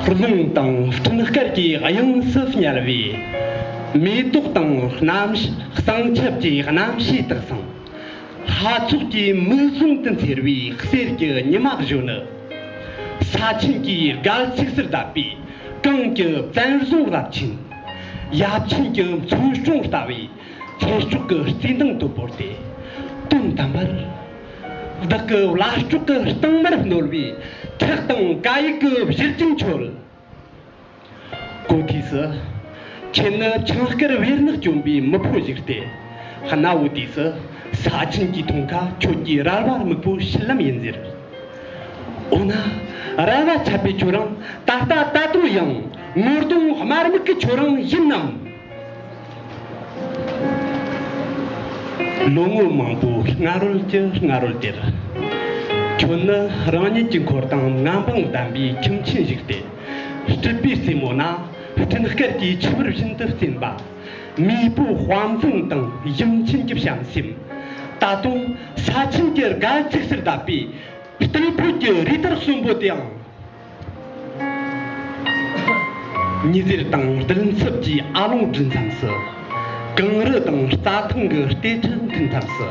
རླུང་དང་སྤྲིན་དཀར་གྱི་དབྱིངས་སུ་བསྙལ་བས། མེ་ཏོག་དང་རྣམ་སྣང་ཆབ་ཀྱི་རྣམ་ཤེས་དག་ཟིན། ལྷ་ཚོགས་ཀྱི་མིག་ཟུང་དུ་འཚེར་བའི་གསེར་གྱི་ཉི་མ་བཞོན་ནི། ས་ཆེན་གྱི་སྒལ་ཚིགས་སུ་བརྡབས་པའི་གངས་ཀྱི་བཙན་རྫོང་རབ་ཆེན། ཡབ་ཆེན་གྱི་མཚོན་གྲོང་ལྟ་བུའི། ཁྱད་སྐྱུགས་ཀྱི་རྩི་མདངས་དུ་བོར་ཏེ། དོན་དམ་པར་བདག་གི་བླ་སྐྱོགས་ཀྱི་རྟིང་མར་བསྣོལ་བའི་ཁྲག་དང་ཀ་ཡིག་གི་བཞུར་རྒྱུན་ཆོད། གོ་དུས་སུ། ཁྱེད་ནི་ཆང་དཀར་བེར་ནག་གྱོན་པའི་མི་ཕོ་ཞིག་སྟེ། གནའ་བོའི་དུས་སུ་ས་ཆེན་གྱི་མཐོང་ཁ་ཁྱོད་ཀྱི་རལ་བར་མིག་པོ་ཤི་ལམ་ཡིན་ཟེར། འོ་ན། རལ་བ་ཆད་པའི་ཁྱོད་རང་ད་ལྟ་ད་དུང་ཡང་ངོ་གདོང་དམར་སྨུག་གི་ཁྱོད་རང་ཡིན་ནམ། ལོ་ངོ་མང་པོའི་སྔ་རོལ་གྱི་སྔ་རོལ་དེར། ཁྱོད་ནི་རང་ཉིད་ཀྱི་འཁོར་དང་མངའ་འབངས་བདམས་པའི་ཁྱིམ་ཆེན་ཞིག་སྟེ། སྤྲུལ་པའི་རྩེ་མོ་ན་སྤྲིན་དཀར་གྱི་ཆུ་བུར་བཞིན་དུ་བརྩེན་པ། མེས་པོའི་དཔའ་མཚན་དང་གཞུང་ཆེན་གྱི་བྱམས་སེམས། ད་དུང་ས་ཆེན་གྱི་དགའ་ཚིགས་སུ་བརྡབས་པའི་རྟུལ་ཕོད་ཀྱི་རི་དྭགས་གསོན་པོ་དེའང། ཉི་ཟེར་དང་སྤྲིན་ཚབ་ཀྱི་ཨ་ལོང་སྒྲིལ་མཚམས་སུ། གངས་རི་དང་རྩྭ་ཐང་གི་ལྟེ་ཁྲི་མཐུད་མཚམས་སུ།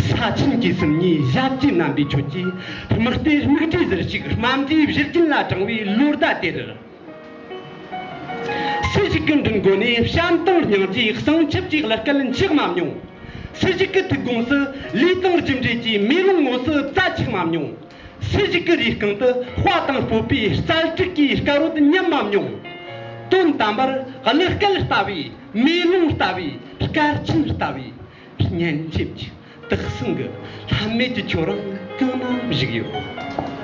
ས་ཆེན་གྱི་སུམ་གཉིས་ཞབས་ཀྱི་རྣམ་པའི་ཁྱོད་ཀྱིས་མི་ལྟོས་མིག་འབྲས་ཟུར་ཞིག་རྨ་འབྲས་བཞུར་རྒྱུན་ལ་དྲངས་བའི་ལོ་ཟླ་དེར། སུ་ཞིག་གི་མགྲིན་སྒོ་ནས་བྱམས་དང་སྙིང་རྗེའི་གསང་ཆབ་ཀྱི་གླུ་སྐད་འཁྱག་མ་མྱོང། སུ་ཞིག་གི་ཐུགས་དགོངས་སུ་ལུས་དང་རྒྱུ་འབྲས་ཀྱི་མེ་ལོང་ངོས་སུ་རྩྭ་འཁྱག་མ་མྱོང། ཧྲི་ཞིག་གི་རིའི་རྐང་དུ་དཔའ་དང་སྤོབས་པའི་རྩལ་སྤྲུགས་ཀྱི་སྐལ་རོལ་མཉམ་མམ་མྱོང། དོན་དམ་པར་གླུ་སྐད་ལྟ་བུའི་མེ་ལོང་ལྟ་བུའི་སྐར་ཆེན་ལྟ་བུའི་སྙན་འཇེབས་ཀྱིས་དག་ཟིན་གྱི་ལྷམ་མེ་ཀྱི་ཁྱོད་རང་གང་ན་བཞུགས་ཡོད།